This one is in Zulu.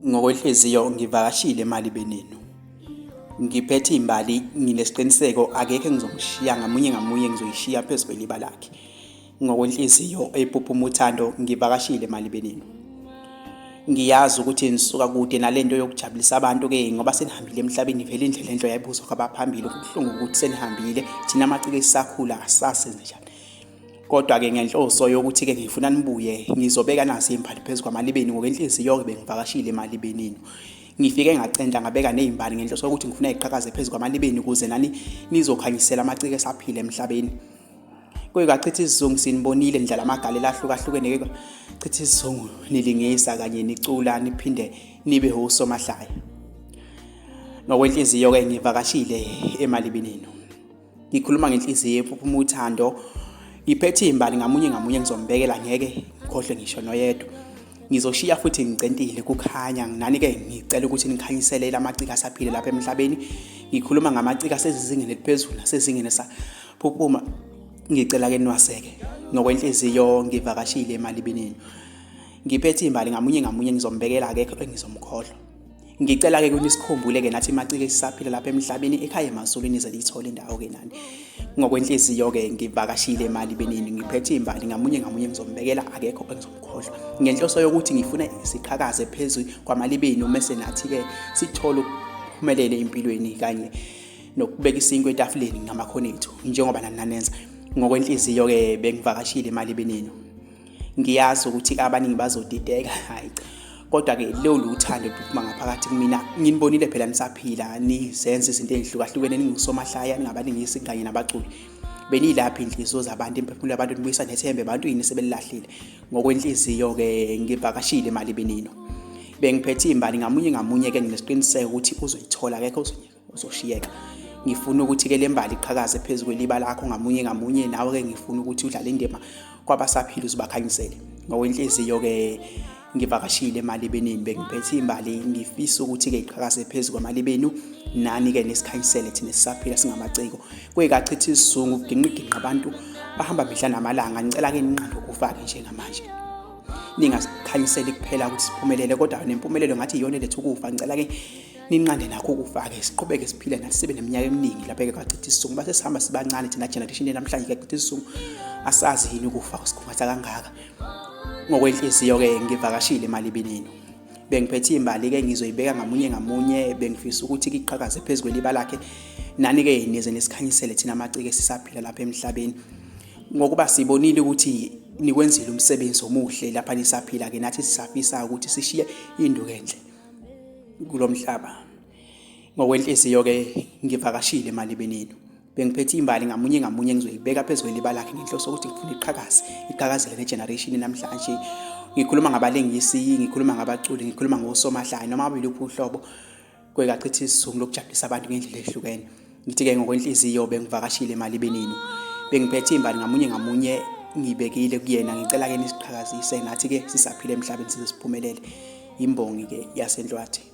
Ngokwenhliziyo ngivakashile emali benenu. Ngiphethe imbali nginesiqiniseko akekho engizomshiya ngamunye ngamunye ngizoyishiya phezu kweliba lakhe. Ngokwenhliziyo eyipuphuma uthando ngivakashile emali benenu. Ngiyazi ukuthi nisuka kude nalento yokujabulisa abantu ke ngoba senihambile emhlabeni vele indlela enhle yayibuzwa kwabaphambili kubuhlungu ukuthi senihambile thina amaciko esisakhula asase nje. Kodwa-ke ngenhloso yokuthi-ke ngifuna nibuye ngizobeka nasi imbali phezu kwamalibeni ngokwenhliziyo-ke bengivakashile emalibenini ngifike ngacenta ngabeka ney'mbali ngenhloso yokuthi ngifuna iqhakaze phezu kwamalibeni ukuze nani nizokhanyisela amaciko esaphila emhlabeni kuyikachitha isizungu sinibonile nidlala amagalela ahlukahlukene ke chitha isizungu nilingisa kanye nicula niphinde nibe osomahlaya ngokwenhliziyo-ke ngivakashile emalibinini ngikhuluma ngenhliziyo ephuma uthando ngiphethe imbali ngamunye ngamunye ngizombekela ngeke ngikhohlwe ngisho noyedwa ngizoshiya futhi ngicentile kukhanya nginani ke ngicela ukuthi nikhanyisele lamacika asaphile lapha emhlabeni ngikhuluma ngamacika asezingeni eliphezulu nasezingeni saphuphuma ngicela ke niwaseke ngokwenhliziyo ngivakashile emalibinini ngiphethe imbali ngamunye ngamunye ngizombekela akekho engizomkhohlwa ngicela-ke ukuthi sikhumbule-ke nathi macike sisaphila lapha emhlabeni ekhaya emazulwini ize liyithole indawo-ke nani ngokwenhliziyo-ke ngivakashile imali benini ngiphethe imbali ngamunye ngamunye ngizombekela akekho engizomkhohlwa ngenhloso yokuthi ngifuna siqhakaze phezu kwamali benu mese nathi-ke sithole ukuphumelele empilweni kanye nokubeka isinkwe etafuleni ngamakhono ethu njengoba nananenza ngokwenhliziyo-ke bengivakashile imali benenu ngiyazi ukuthi abaningi bazodideka hayi kodwa ke lolu uthando luphuma ngaphakathi kumina nginibonile phela nisaphila nizenza izinto ezihlukahlukene ningusomahlaya ningabalingisi kanye nabaculi benilaphi inhliziyo zabantu imphefumulo yabantu nibuyisa nethembe abantu yini sebelilahlile ngokwenhliziyo ke ngivakashile imali benino bengiphethe imbali ngamunye ngamunye ke nginesiqiniseko ukuthi uzoyithola akekho uzoshiyeka ngifuna ukuthi-ke le mbali iqhakaze phezu kweliba lakho ngamunye ngamunye nawe-ke ngifuna ukuthi udlale indima kwabasaphila uzibakhanyisele ngokwenhliziyo-ke ngivakashile emalibenini bengiphethe imbali ngifisa ukuthi-ke iqhakaze phezu kwamalibenu nani-ke nesikhanyisele thina sisaphila singamaciko kuyikachithi isizungu kuginqiginqa abantu bahamba mihla namalanga ngicela-ke ninqanda ukufake njengamanje ningazikhanyiseli kuphela ukuthi siphumelele kodwa nempumelelo ngathi iyona eletha ukufa ngicela-ke ninqande nakho ukufake siqhubeke siphile nathi sibe neminyaka eminingi lapha-ke kwachitha isizungu base sihamba sibancane thina generation namhlanje kuyachitha isizungu asazi yini ukufa kusikhungatha kangaka ngokwenhliziyo-ke ngivakashile emalibinini bengiphethe imbali-ke ngizoyibeka ngamunye ngamunye bengifisa ukuthi kiqhakaze phezu kweliba lakhe nani-ke nize nisikhanyisele thina amacike sisaphila lapha emhlabeni ngokuba sibonile ukuthi nikwenzile umsebenzi omuhle lapha nisaphila-ke nathi sisafisa ukuthi sishiye induku enhle kulo mhlaba ngokwenhliziyo-ke ngivakashile emalibeni enu bengiphethe imbali ngamunye ngamunye engizoyibeka phezu kweliba lakhe ngenhloso ukuthi ngifuna iqhakaze iqhakazele negeneration namhlanje ngikhuluma ngabalingisi ngikhuluma ngabaculi ngikhuluma ngosomahlaya noma abeluphi uhlobo kwekachitha isizungu lokujabulisa abantu ngendlela ehlukene Ngithi-ke ngokwenhliziyo bengivakashile emalibeninu. Bengiphethe imbali ngamunye ngamunye ngibekile kuyena ngicela ke nisiqhakazise nathi ke sisaphile emhlabeni size siphumelele imbongi ke yasenhlwathi